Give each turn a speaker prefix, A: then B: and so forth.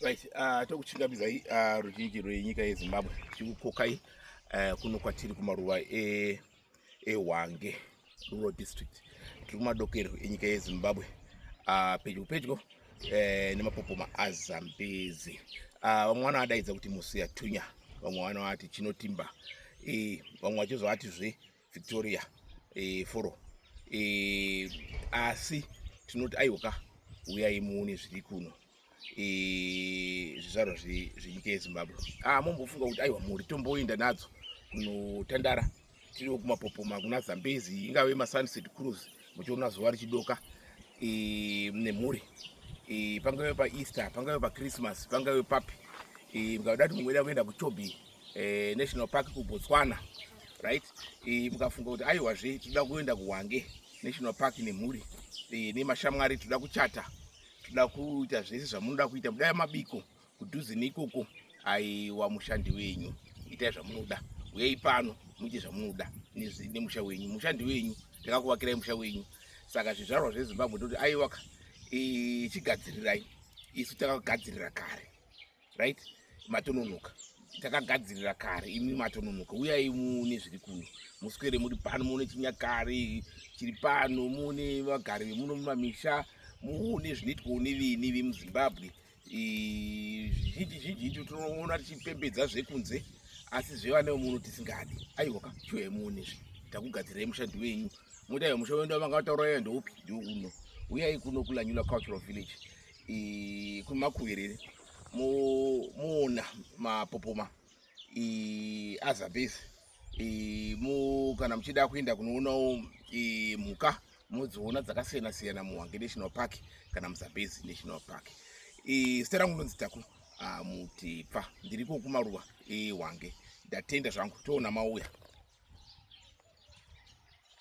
A: right uh, ah, tokuchingamidzai uh, ah, ruzhinji rwenyika yezimbabwe tichikukokai uh, eh, kuno kwatiri kumaruva e eh, ehwange rural district tiri kumadokero enyika yezimbabwe ah, pedyo pedyo eh, nemapopoma azambezi ah, vamwe vanoadaidza kuti musiyatunya vamwe vanovati chinotimba eh, vamwe vachizovati zve victoria foro asi tinoti aiwoka uyai muone zviri kuno zvizvarwa zvenyika yezimbabwe ah, mombofunga kuti aiwa mhuri tomboinda nadzo kunotandara tiriwo kumapopoma kuna zambezi ingave masunset cruise muchiona zuva richidoka nemhuri pangave paeaster pangave pachristmas pangave papi mukada kuti mungweda kuenda kuchobi eh, national park kubotswana right mukafunga kuti aiwazve tinoda kuenda kuhwange national park nemhuri nemashamwari tinoda kuchata Tinoda kuita zvese zvamunoda kuita kudai mabiko kudhuze neikoko aiwa mushandi wenyu itai zvamunoda uyai pano muite zvamunoda nemusha wenyu mushandi wenyu takakuvakirai musha wenyu saka zvizvarwa zvezimbabwe toti aiwaka chigadzirirai isu takagadzirira kare right matononoka takagadzirira kare imi matononoka uyai muone zviri kuno muswere muri pano muone chinyakare chiri pano muone vagari vemuno mumamisha muone zvinoitwawo neveni vemuzimbabwe zvizhinji zhinji icho tinoona tichipembedza zvekunze asi zvevana vemuno tisingadi aiwa ka chiuya muone zve takugadzirai mushandi wenyu moita musha wendu vanga vatauraya ndoupi ndouno uyai kuno kulanyula cultural village kumakuviriri muona mapopoma azabhezi kana muchida kuenda kunoonawo mhuka mudziona dzakasiyana siyana muhwange national park kana muzabhezi national park zita rangu ndonzi taku ah, mutipfa ndiriko kumaruva ehwange ndatenda zvangu toona mauya